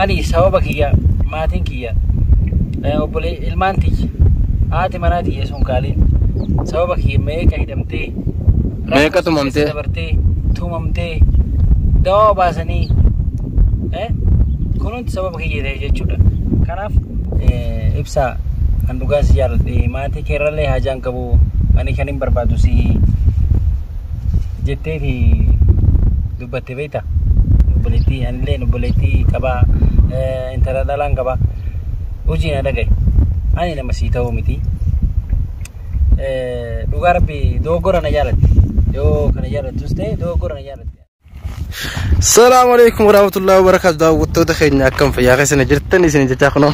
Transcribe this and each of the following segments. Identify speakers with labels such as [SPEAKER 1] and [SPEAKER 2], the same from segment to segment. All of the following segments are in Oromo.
[SPEAKER 1] Ani sababa kiyya maatiin kiyya eh, obbolee ilmaan tiyya haati manaa tiyya sun kaaliin sababa kiyya meeqa hidhamtee Meeqa rakkoo
[SPEAKER 2] tumamtee? keessa dabartee
[SPEAKER 1] tumamtee dawaa baasanii eh, kun hundi sababa kiyya ta'e jechuudha. Kanaaf eh, ibsaa kan dhugaa si jaalladhe maatii keerrallee haajaan qabu ani kan hin barbaadu si jetteeti dubbatte. Beekta obboleettii anillee obboleettii qabaa intala dhalaan qabaa hojii na dhagaye ani nama sii ta'uu miti dhugaa rabbi dogoggora na jaalatte yoo kana jaalattus ta'e dogoggora na jaalatte.
[SPEAKER 2] Salaamu alaikum warahmatullahi wabarakatuh daawwattoota keenya akkam fayyaa keessan jirtan isin jechaa kunoo.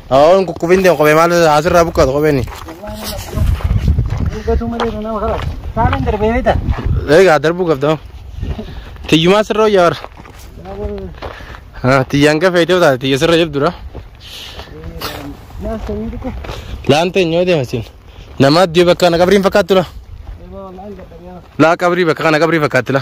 [SPEAKER 1] Hawaawwan kukkufin
[SPEAKER 2] deemu kophee maal asirraa buqqaatu kopheen. Dubbatu
[SPEAKER 1] malee nama hawa. Saalan darbee beekta. Egaa darbuu
[SPEAKER 2] qabda. Tiyyumaa sirra hojjaa warra. Tiyyaan gafee ta'uu taate tiyya sirra jabdudha. Naaf ta'ee dhukkee. Laanta hin yoo deema siin. Namaa iddoo bakka kana qabriin fakkaattu la. Eeboo waan gadhabee. Laa qabrii bakka kana qabrii fakkaatti la.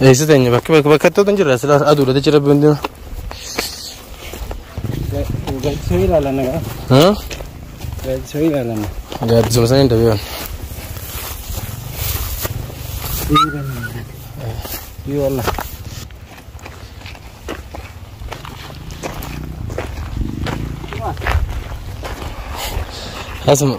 [SPEAKER 2] Eessa teenya bakki bakka bakka itti hin jirre silaa aduudha jechi rabbi hundi.
[SPEAKER 1] Gaaddisuma sana hin
[SPEAKER 2] dabeewan. Asuma.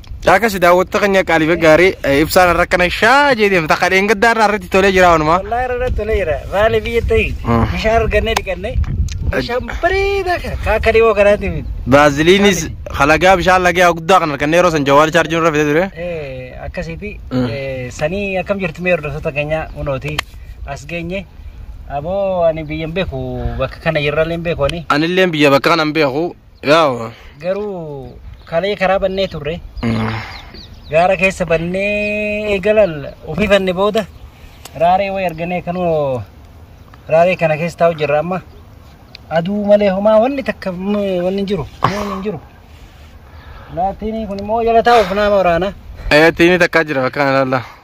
[SPEAKER 1] Caakas
[SPEAKER 2] daawwattota keenya qaaliif gaarii ibsaan irra kana shaa jedhee takka dheengaddaa irraa irratti tolee jira wanumaa. Wallahi irra tolee jira.
[SPEAKER 1] Maali biyya ta'e bishaan argannee dhiqannee bishaan bareedaa kana kaa akka dhiboo kanaatti miti. Baaziliinis
[SPEAKER 2] halagaa bishaan lagee guddaa kan argannee yeroo san jawaal chaarjii nurra fide ture. Akkasiiti
[SPEAKER 1] sanii akkam jirtu mee hordoftoota keenya hunooti as geenye. Aboo ani biyyan beeku bakka kana jirrallee beeku ani. Anillee biyya bakka kana
[SPEAKER 2] beeku. Yaawa. Garuu
[SPEAKER 1] kalee karaa bannee turre. Gaara keessa bannee eegalan ofii fanne booda raaree wayi arganee kanoo raaree kana keessa taa'u jirra amma. Aduu malee homaa wanni takka mm, wanni hin jiru. Wanni hin jiru.
[SPEAKER 2] Laatiin
[SPEAKER 1] kun immoo
[SPEAKER 2] jala
[SPEAKER 1] taa'uuf nama waraana. Ayyatiin
[SPEAKER 2] takkaa
[SPEAKER 1] jira bakka
[SPEAKER 2] kanarra.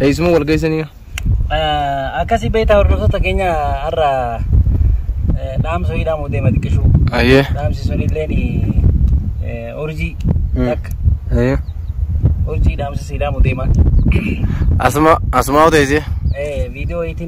[SPEAKER 2] Eessuma wal geessanii?
[SPEAKER 1] Akkasii beektaa hordoftoota keenya har'a dhaamsa wayii dhaamuuf deema xiqqishuu. Ayyee. Dhaamsi sun
[SPEAKER 2] illee
[SPEAKER 1] urjii takka Ayyee.
[SPEAKER 2] urjii
[SPEAKER 1] dhaamsa sii dhaamuuf deema. Asuma
[SPEAKER 2] asumaa oteessee. Viidiyoo wayiitiin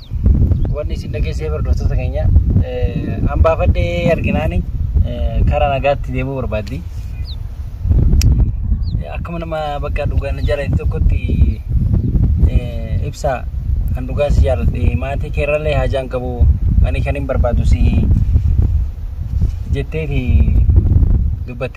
[SPEAKER 1] wanni isin dhageessee hordoftoota keenya hambaafadhee arginaani karaa nagaatti deemuu barbaaddi. Akkuma nama bakka dhugaan jaalate tokkotti ibsaa kan dhugaa si jaaladhe maatii keerrallee haajaan qabu ani kan hin barbaadu si jetteeti dubbatte.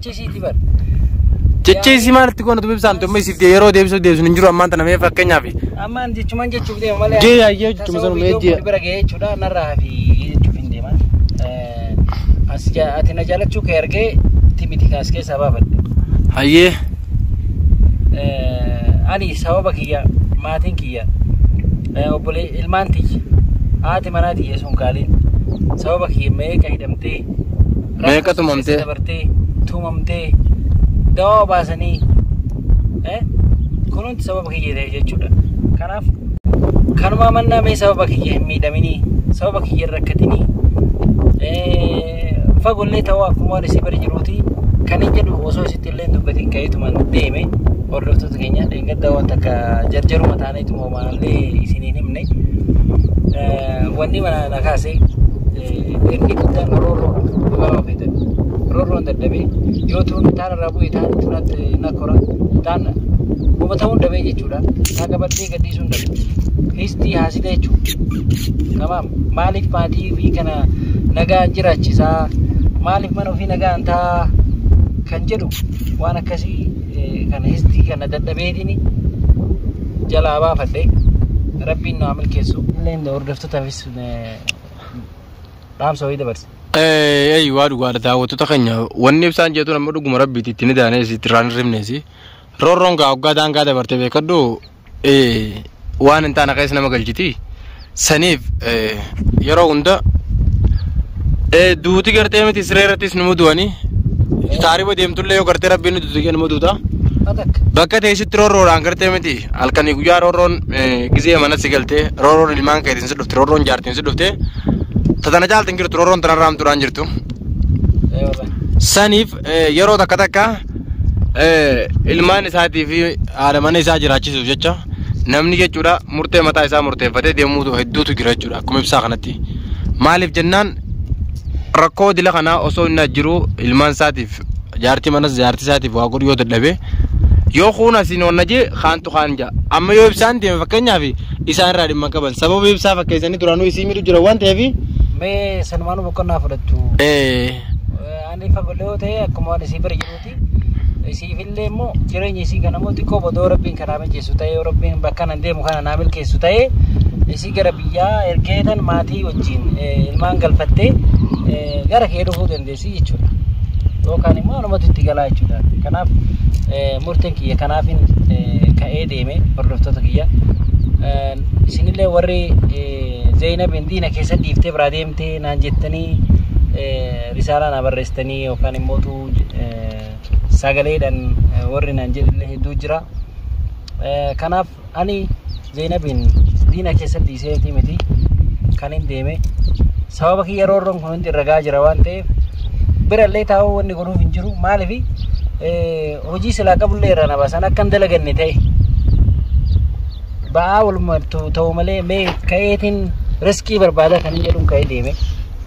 [SPEAKER 1] Chisiiti
[SPEAKER 2] bar.
[SPEAKER 1] Cicciisii
[SPEAKER 2] maalitti goona dubbii isaanitti amma isiif dee- yeroo deebisuuf deebisuun hin jiru ammaan tana mee fakkeenyaaf Ammaan jechuman jechuuf
[SPEAKER 1] deema malee. Jee yaayyee jechuuma sanuma,
[SPEAKER 2] Tasawwii jee. iddoo bira ga'ee jechuudha narraa
[SPEAKER 1] hafi jechuuf hin deema. Eh, As ja- ati na jaalachuu kee argee timiti kaas keessaa baafadhe. hayyee Eh, Ani sababa kiyya maatiin kiyya eh, obbolee ilmaan tiyya haati manaa tiyya sun kaaliin sababa kiyya meeqa hidhamtee Meeqa
[SPEAKER 2] tumamtee? dabartee
[SPEAKER 1] tumamtee dawaa baasanii eh, kunuunti sababa kiyya ta'e jechuudha. Kanaaf kanumaa mannaa mee sababa kiyya hin miidhaminii sababa kiyya hin rakkatinii eh, fagollee ta'uu akkuma waan isii bari jiruuti kan hin jedhu osoo isitti illee hin dubbatin ka'eetuman deeme hordoftoota keenya dheengaddaa waan takka jarjaruma taaneetuma Maallee isiniin himne wanni mana na kaase inni guddaan roorroo dubaroo feetan roorroon dadhabee yoo tuun taan irraa bu'e taan turatti na kora taan hubatamuun dhabee jechuudha taa gabattee gadhiisuun dhabe fiistii haasita jechuudha kamaam maaliif maatii fi kana nagaa jiraachisaa maaliif mana ofii nagaan taa kan jedhu waan akkasii kana histii kana dadhabeetini jalaa baafadhe rabbiin naa milkeessu illeen hordoftotaafis dhaamsa wayii dabarsa. Eeyyii waa
[SPEAKER 2] dhugaadha daawwattoota keenya wanni ibsaan jeetuun amma dhuguma rabbiiti itti ni daaneesi itti irraan hin rifneesi roorroon gaa hoggaa daangaa dabartee beekadhu waan hin taane keessa nama galchiti saniif yeroo hunda duuti gartee miti siree irrattis nu mudu'anii taariba deemtullee yoo gartee rabbiin nuti duuti nu muduuta bakka teessitti roorroodhaan gartee miti halkanii guyyaa roorroon gizee mana si galtee roorroon ilmaan keetiin si dhufte roorroon jaartiin si dhufte tatana caalti hin jirtu roorroon tanarraa hamtuudhaan jirtu saniif yeroo takka takka ilmaan isaatii fi haadha mana isaa jiraachisuuf jecha namni jechuudha murtee mataa isaa murteeffatee deemuu hedduutu jira jechuudha akkuma ibsaa kanatti. Maaliif jennaan rakkoo dila kanaa osoo inni jiru ilmaan isaatiif jaartii manas jaartii isaatiif waa godhu yoo dadhabe yoo kuun asiin onna jee kaantu kaan jaa amma yoo ibsaan deeme fakkeenyaaf isaan irraa dhimma qaban sababa ibsaa fakkeessanii duraanuu isii miidhu jira waan ta'eef Mee sanumaan
[SPEAKER 1] boqonnaa fudhattu. eh, Ani fagoloo ta'e akkuma waan isii bira jiruuti. Isiifillee immoo jireenya isii kana immoo xiqqoo bodoo rabbiin kanaa mijeessu ta'ee rabbiin bakka nan deemu kana naa milkeessu ta'ee isii gara biyyaa ergee tan maatii wajjin ilmaan galfattee gara kee dhufuu dandeessi jechuudha. Yookaan immoo anumatu itti galaa jechuudha. Kanaaf murteen kiyya kanaafin ka'ee deeme hordoftoota kiyya. Isinillee warri Zeynabiin diina keessa dhiiftee biraa deemtee naan jettanii risaalaa naa barreessitanii yookaan immoo sagaleedhaan warri naan jedhillee hedduu jira. Kanaaf ani Zeenabiin diina keessatti isheetii miti kan hin deeme sababa kiyya roorroon kun hundi irra gahaa jira waan ta'eef birallee taa'uu wanni godhuuf hin jiru maaliif hojii silaa qabullee irraa na baasan akka hin dalaganne ta'e ba'aa walumaa ta'u malee mee ka'eetiin riskii barbaada kan hin jedhuun ka'ee deeme.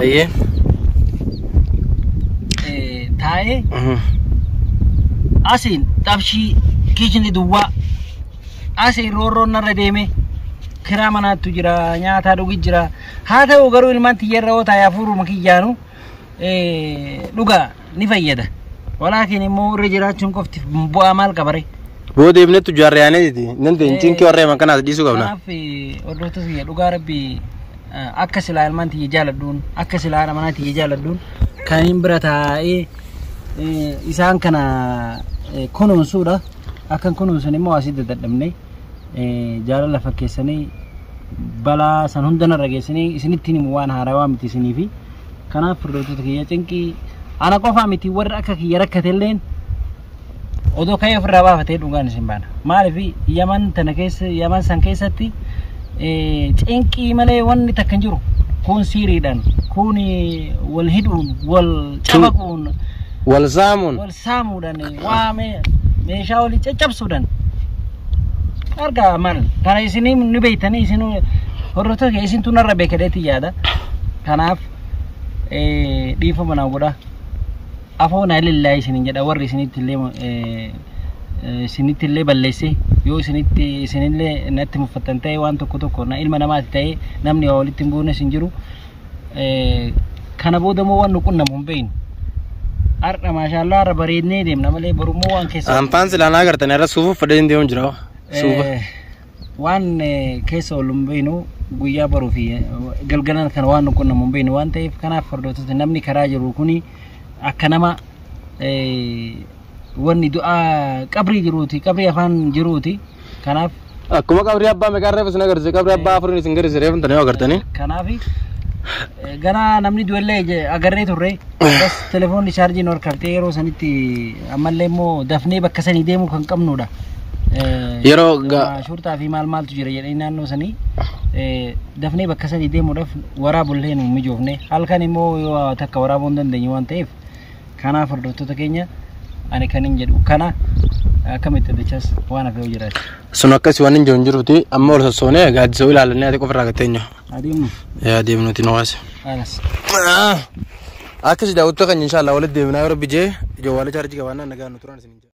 [SPEAKER 1] Ayyee.
[SPEAKER 2] Eh,
[SPEAKER 1] taa'ee Mhm. asiin xabshii kichni duwwaa asiin roorroon narra deeme kiraa manaattu jira nyaataa dhugi jira haa ta'u garuu ilmaan tiyyarra yoo taa'e hafuuruma kiyyaanu eh, dhugaa ni fayyada. Walaakin immoo irra jiraachuun qofti bu'aa maal qabare? Boo deemnettu
[SPEAKER 2] jaarra yaanetiti. Nan deeyin cinkii warra himan kanaas dhiisuu qabna. Kanaaf hordoftoota
[SPEAKER 1] kiyya dhugaa rabbii akka silaa ilmaan tiyya jaaladhuun akka silaa haadha manaa tiyya jaaladhuun kan hin bira taa'ee isaan kana kunuunsuudha. Akkan kunuunsun immoo asii dadhabne jaalala fakkeessanii balaa san hundanarra geessanii isinittiin himu waan haarawaa miti isiniifi. Kanaaf firdootoota kiyya cinqii ana qofaa miti warri akka kiyya rakkatelleen odoo ka'ee ofirraa baafatee dhugaan isin baana. Maaliif yaman tana keessa yaman san keessatti cinqii malee wanni takka hin jiru. Kun siiriidhaan, kun wal hidhuun, wal cabaquun, wal
[SPEAKER 2] zaamuun. wal saamuudhaan
[SPEAKER 1] waamee meeshaa olii caccabsuudhaan argaa maal kana isinii ni beektanii isin hordoftoota kee isintu narra beekadeetti yaada kanaaf eh, dhiifama naa godha afoon alillaa isinin jedha warri isinitti illee eh, eh, isinitti illee balleesse yoo isinitti isinillee natti muffattan ta'e waan tokko tokko na ilma namaati ta'e namni waa walitti hin buune isin jiru kana booda immoo waan nu qunnamu hin beeknu. Har'a maashaallah har'a bareednee deemna malee boru immoo waan keessa. Aanfaan silaa naa gartan irra
[SPEAKER 2] suufuuf fadhee hin deemu jira. Suufa.
[SPEAKER 1] Waan keessa ol hin beeknu guyyaa baruu fi galgalan kana waan nu qunnamu hin beeknu waan ta'eef kanaaf hordoftoota namni karaa jiru kuni akka nama wanni du'aa qabrii jiruuti qabrii afaan jiruuti. Kanaaf Akkuma qabrii
[SPEAKER 2] abbaa meeqaan reefu isin agarsiise qabrii abbaa afuriin isin garisiise reefu tanii agartanii. kanaaf
[SPEAKER 1] ganaa namni du'ellee je- agarree turre. Bas telefoonni chaarjiin ol kaftee yeroo sanitti ammallee immoo dafnee bakka sanii deemuu kan qabnudha. Eh, Yeroo
[SPEAKER 2] ga- ah, shurtaa fi
[SPEAKER 1] maal maaltu jira jedhanii naannoo sanii eh, dafnee bakka sanii deemuudhaaf waraabullee nu hin mijoofne halkan immoo yoo takka waraabuu hin dandeenye waan ta'eef Kanaaf hordoftoota keenya ani kan hin jedhu kana akkamitti dachas waan hafe yoo jiraate. Sun akkasii waan hin
[SPEAKER 2] jiru hin jiruti amma ol sossoonee gaaddisoo ilaalannee ati qofa irraa gatteenyu. Adeemnu Yaa deemnuti nu waasi. alas. Akkasii daawwattoota keenya inshaallah walitti deebinaa yoo rabbi jee jawwaala chaarjii qabaannaan nagaan nu turan isin.